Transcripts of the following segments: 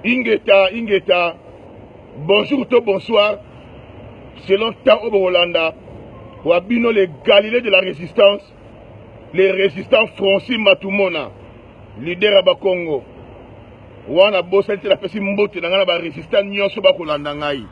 ingeta ingeta bonjour to bonsoir selon temps oyo bokolanda wa bino le galilée de la résistance le résistant francis matumona leader ya bakongo wana bosani te napesi mbote na ngai na barésistant nyonso bakolanda ngai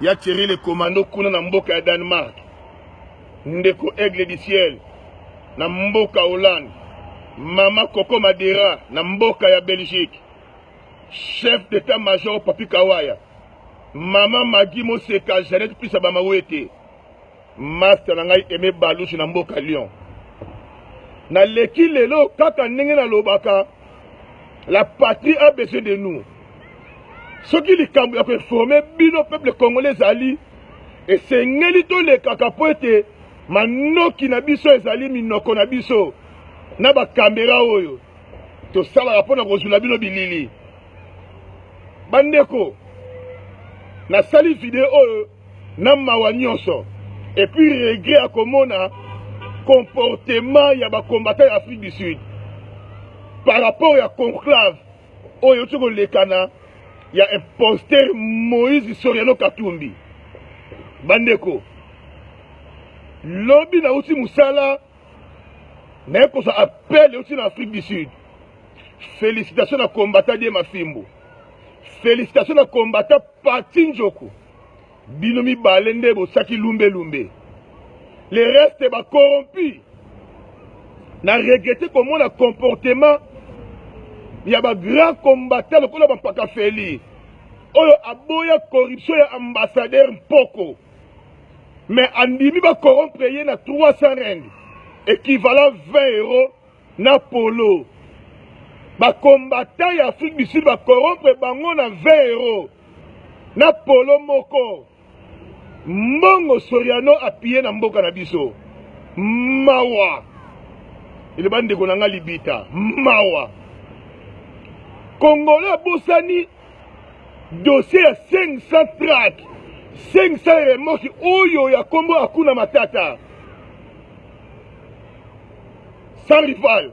ya thierry le commando kuna na mboka ya danemark Ndeko Aigle du Ciel na mboka Hollande, Mama Coco Madera na mboka ya Belgique, Chef d'etat major Papi Kawaya, Mama Magi Moseka, Jeannette Pisa Bamawete, Master na ngai Aimé Balushi na mboka Lyon. Naleki lelo kaka ndenge nalobaka la patrie a besoin de nous. soki likambo ya koinforme bino peuple congolais ezali esengeli tolekaka mpo ete manoki na biso ezali minoko na biso na bakamera oyo tosalaka mpo na kozwila bino bilili bandeko nasali video oyo na mawa nyonso epuis regret ya komona comportement ya bacombatant ya afrique du sud par rapport ya conclave oyo euti kolekana ya imposteur moïse soriano katumbi bandeko lobi nauti mosala naye kozwa appel euti na afrique du sud félicitation na combattant die mafimbo félicitation na combattant pati njoku Bino mibale nde bosaki lumbe lumbe. Les restes ba corrompu. Na regrette komona comportement ya ba grand combattant lokola ba mpaka Feli oyo aboya corruption ya ambassadeur Mpoko mais andimi ba corrompre ye na 300 rand équivalent 20 euros na polo. Ba combattant ya Afrique du Sud ba corrompre bango na 20 euros. na polo moko mbongo soriano apiye na mboka na biso mawa eloba ndeko na ngai libita mawa kongolo abosani dossier ya 500 trak 500 remoki oyo ya nkombo akuna matata sans rival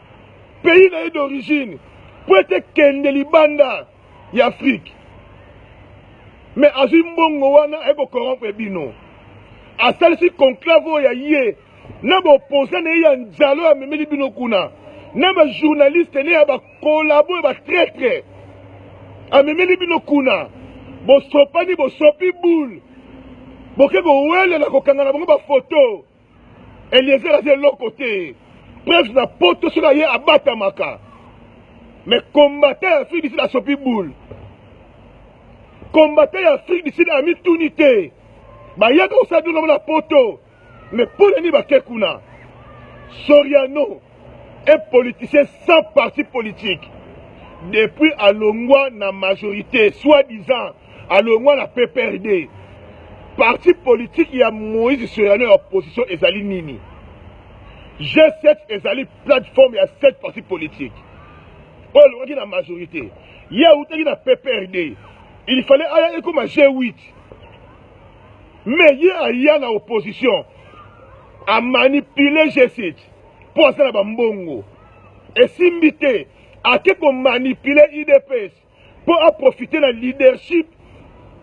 pays na ye d'origine mpo ete kende libanda ya afrike mais azwi mbongo wana aye kokorompre bino asalisi conclave oyo ya ye na baopposa na ye ya nzalo amemeli bino kuna na bajournaliste ne ya bakolabo ya batraitre amemeli bino kuna bosopani bosopi boule boke kowelela kokanga na bango bafoto Eliezer aza eloko te. Preuve na poto soki aye abatamaka. Mais combattant ya Afrique du Sud asopi boule. Combattant ya Afrique du Sud amituni te. Bayaka kosala bino na poto. Mais mpo na nini bake kuna? Soriano Un politicien sans parti politique depuis alongwa na majorité soit disant alongwa na PPRD parti politique ya Moïse Soyano ya opposition ezali nini G7 ezali plateforme ya 7 parti politique oyo alongaki na majorité ye awutaki na PPRD il fallait aya ekoma G8 mais ye aya na opposition amanipule G7 mpo asala bambongo esimbi te ake komanipule udps mpo aprofite na leadership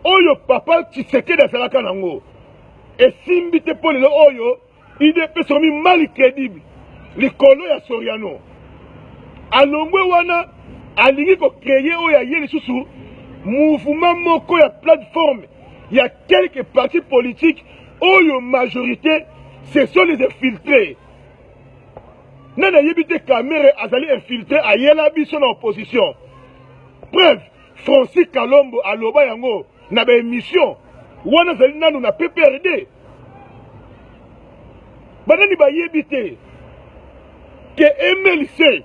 oyo papa tshisekedi azalaka nango esimbi te mpo lelo oyo udps okomi mal credible likolo ya soriano alongwe wana alingi kocreye oyo aye lisusu mouvement moko ya plateforme ya quelque parti politique oyo majorité ce sont les infiltrés nani ayebi te kamere azali infiltré ayela biso na opposition preuve francis kalombo aloba yango na baémission wana azali nanu na pprd banani bayebi te ke mlc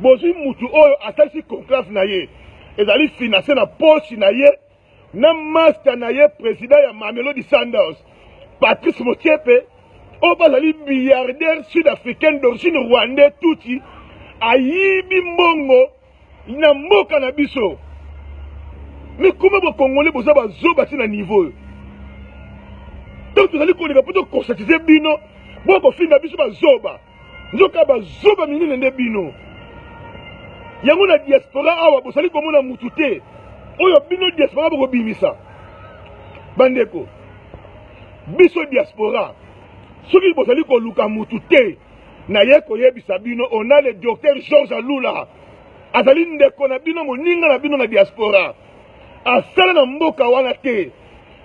bozwi mutu oyo asalisi conclave na ye ezali finance na poche na ye na masta na ye president ya mamelodi sanders patrice motiepe oyo bazali milliardaire sud africaine d'origine rwandais tutsi ayibi mbongo na mboka na biso mikoma bokongole boza bazoba ti na niveau oyo ntango tozali koleka mpo tokonsatize bino bokofinga biso bazoba Nzoka ba zoba minene nde bino. Yango na diaspora awa bosali komona mutu te oyo bino diaspora bokobimisa bandeko biso diaspora soki bozali koluka mutu te naye koyebisa bino on a le docteur george alula azali ndeko na bino moninga na bino na diaspora asala na mboka wana te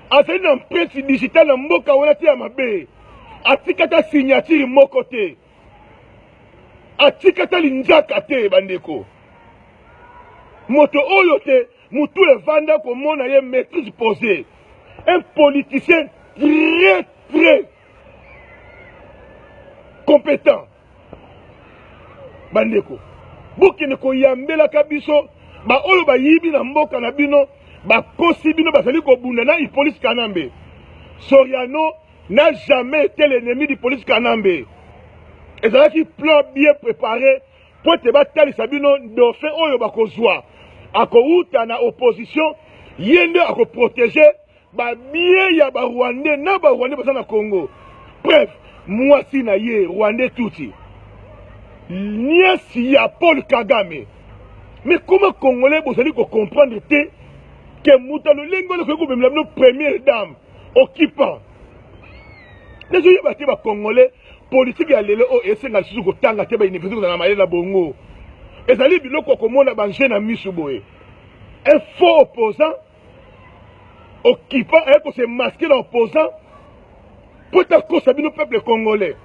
azali na mpesi digital na mboka wana te ya mabe atika ata signature moko te atika ata linzaka te bandeko moto oyo te motu evanda komona ye maîtrise posé un politicien très très compétent bandeko bokende koyambelaka biso baoyo bayibi na mboka na bino bakosi bino bazali kobunda na ipolisi kanambe soriano n'a jamais été l'ennemi du police kanambe ezalaki plan bien préparé mpo ete batalisa bino dauphin oyo bakozwa akowuta na opposition ye nde akoprotege Ba billets ya ba Rwandais na ba Rwandais baza na Congo. Bref, mwasi na ye Rwandais Tutsi. Nièce ya Paul Kagame. Mais comment Congolais bozali ko comprendre te que muta lolenge oyo koki komemela bino première dame occupant. Nazo yeba te ba Congolais politique ya lelo oyo esenga lisusu kotanga te ba université kozala na mayele na bongo. Ezali biloko ya komona ba jeu na misu boye. Un faux opposant occupant aye ko se masquer na opposant mpo takosa bino peuple congolais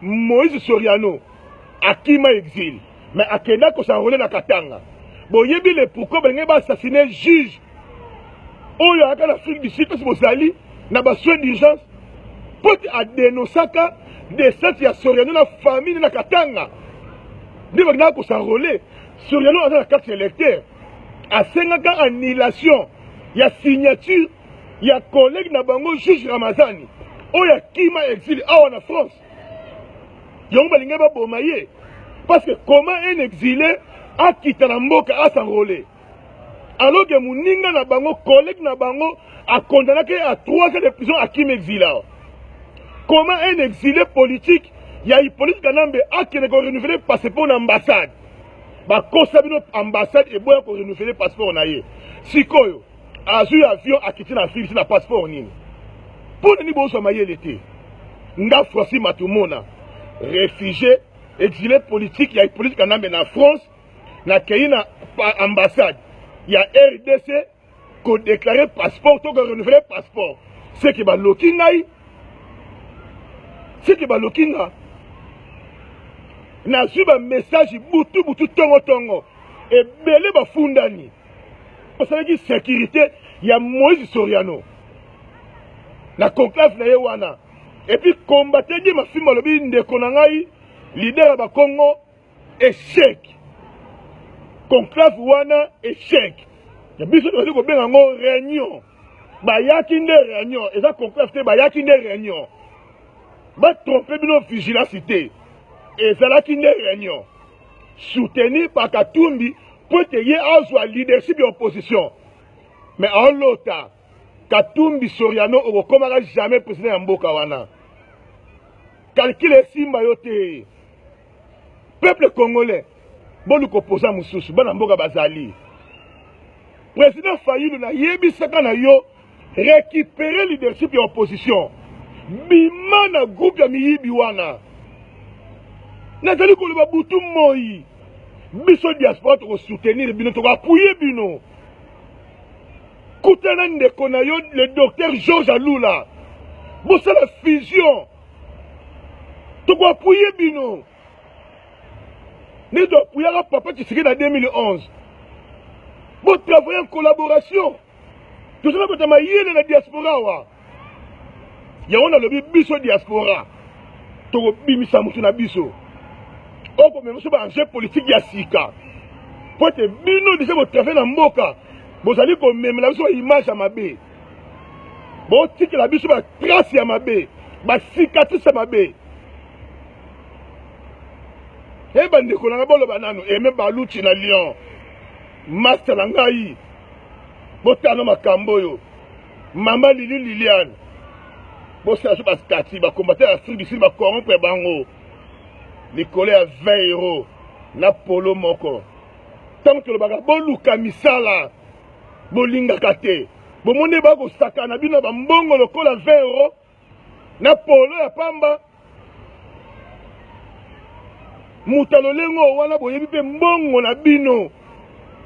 moïse soriano akima exil mais akenda kosanrole na katanga boyebi le pourquoi balingaki baassassine juge oyo ayaka na afrique du sud kasi bozali na basoin d'urgence mpo te adenosaka descente ya soriano na famille na katanga nde bakendaka kosanrole soriano aza na carte électeur asengaka annulation ya signature ya collègue na bango juge ramazani oyo akima exile awa na france yango balingai baboma ye parce que comment un exile akita na mboka asanrole alors que moninga na bango collègue na bango akondanaki à trois ans de prison akim exile awa comment un exile politique ya hippolyte kanambe akende ko renouveler passeport na ambassade bakosa bino ambassade eboya ko renouveler passeport na ye sikoyo azwi avion akiti na afrique ti na passeport nini mpo na nini bozwa mayele te nga franci matumona réfugié exilé politique ya hippolyte kanambe na france nakei na ambassade ya rdc ko déclarer passeport to ko renouveler passeport c'est que baloki ngai c'est que baloki nga nazwi ba message butu butu tongo tongo ebele bafundani basalaki sécurité ya Moïse Soriano na conclave na ye wana epuis combatedi mafimbo alobi ndeko na ngai lider ya bakongo echec conclave wana echec ya biso tozali kobenga yango réunion bayaki nde réunion eza conclave te bayaki nde réunion batrompe bino vigilance te ezalaki nde réunion soutenu par katumbi mpo ete ye azwa leadership ya opposition mais aolota katumbi soriano okokomaka jamais président ya mboka wana calcule esimba yo te peuple congolais boluka opoza mosusu bana mboka bazali président fayilu nayebisaka na yo récupérer leadership ya opposition bima na groupe ya miyibi wana nazali koloba butu moi biso diaspora tokosoutenir bino tokoapuye bino kutana ndeko na yo le docteur george alula bosala fusion tokoapuye bino nde toapuyaka papa tshiseke na 2011 botravaille en collaboration toza na bato ya mayele na diaspora wa yango nalobi biso diaspora tokobimisa moto na biso okomema biso baenjeu politike ya sika mpo ete bino deja botravaille na mboka bozali komemela biso baimage ya mabe botikela biso ba trace ya mabe ba cicatrice ya mabe e bandeko na ngai boloba nano eme baluti na lion master na ngai botano makambo oyo mama lili liliane bosala so bastati bakombate ya afrique du sud bacorrompre bango likolo ya 20 euro na polo moko ntango tolobaka boluka misala bolingaka te bomoni bakosakana bino na bambongo lokola 20 euro na polo ya pamba moto ya lolenge oyo wana boyebi mpe mbongo na bino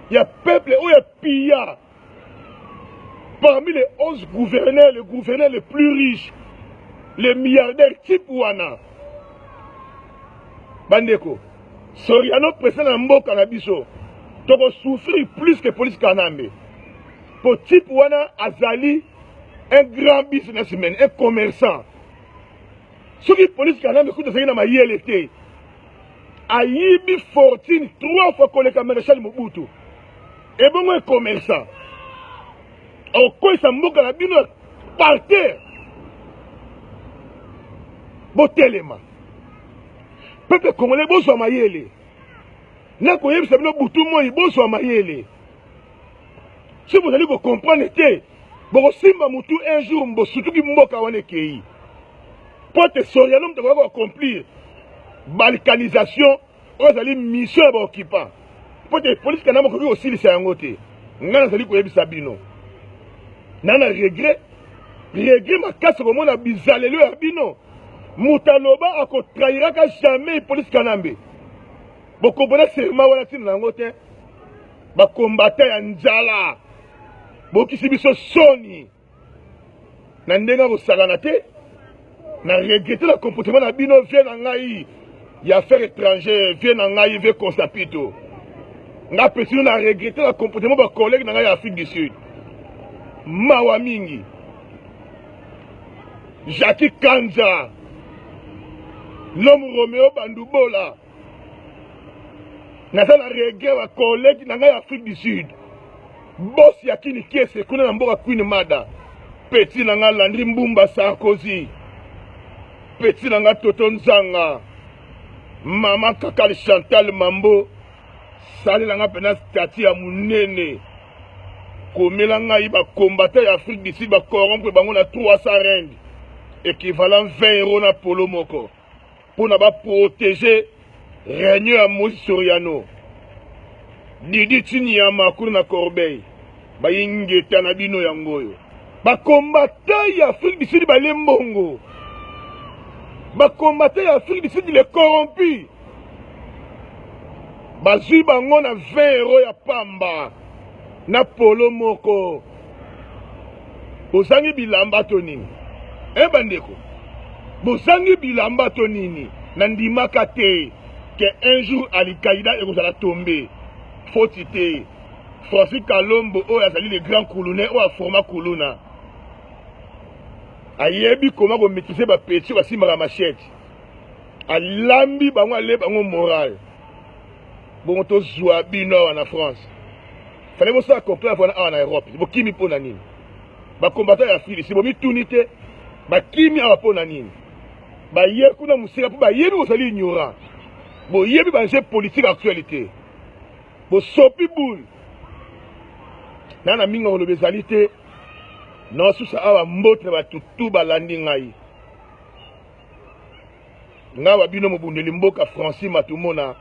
ya peuple oyo ya piya parmi les 11 gouverneurs le gouverneur le plus riche le milliardaire type wana bandeko Soriano president na mboka na biso toko souffrir plus que police kanambe po type wana azali un grand businessman un commerçant soki police kanambe kutu azali na mayele te ayibi fortune trois fois koleka marechal mobutu ebongo ecommerçant okoyisa mboka na bino par terre botelema peuple congolais bozwa mayele nakoyebisa bino butu moi bozwa mayele soki bozali kocomprendre te bokosimba motu un jour bosutuki mboka wana ekei mpo te soriano moto akoki koaccomplir balkanisation oyo ezali mission ya baoccupant mpo te polisi kanama okoki kosilisa yango te ngai nazali koyebisa bino na na regret regret makasi komona bizaleli ya bino moto aloba akotrahiraka jamais police kanambe bokompona serma wana ntina na yango te bakombata ya njala bokisi biso soni na ndenge ya kosakana te na regrete na comportement na bino vie na ngai ya affaire étranger vie na ngai vie consapito nga pesino na regrete na comportement bacollègue na ngai ya afrique du sud mawa mingi Jackie Kanza, l'homme Romeo Bandubola, naza na regret wa collègue na ngai ya Afrique du Sud, boss ya Kini Kiese kuna na mboka Queen Mada, petit na ngai Landry Mbumba Sarkozy, petit na ngai Toto Nzanga, mama Kakali Chantal Mambo, salela ngai mpenza stati ya monene. Komela ngai ba combattants ya Afrique du Sud ba corrompre bango na 300 rand equivalent 20 euros na polo moko pona ba protéger règne ya Moïse Soriano Didi Chinyama kuna na Corbeil bayi ngeta na bino yango oyo ba combattants ya Afrique du Sud bale mbongo ba combattants ya Afrique du Sud les corrompus bazwi bango na 20 euro ya pamba na polo moko bozangi bilamba to nini e eh, bandeko bozangi bilamba to nini na ndimaka te ke un jour alikaida ekozala tombe foti te francis kalombo oyo azali le grand kulune oyo aforma kuluna ayebi koma kometrise bapeti oyo basimbaka machete alambi bango ale bango moral bongo tozwa bino awa na france fale bosala conclave wana awa na europe bokimi mpo na nini bakombata ya filisi bomituni te bakimi awa mpo na nini baye kuna mosika mpo bayebi bozali ignorant boyebi banje politique actualité bosopi boule na na mingi koloba ezali te naosusa awa mbote na bato tu balandi ngai nga wa bino mobundeli mboka francis matumona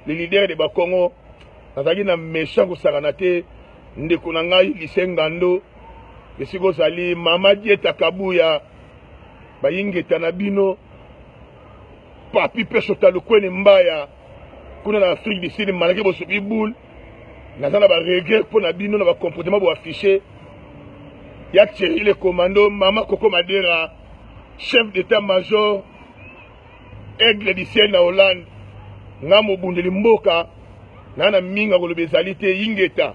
le leader de bakongo nazalaki na méchant kosakana te ndeko na ngai lise ngando esika ozali mama dieta kabuya bayingeta na bino papi pesota lukwene mbaya kuna na afrique du sud malgré bosopi boule naza na baregret mpo na bino na bacomportement boaffiche ya thierry le commando mama koko madera chef d'état major aigle du ciel na hollande nga mobundeli mboka naa na mingi akoloba ezali te ingeta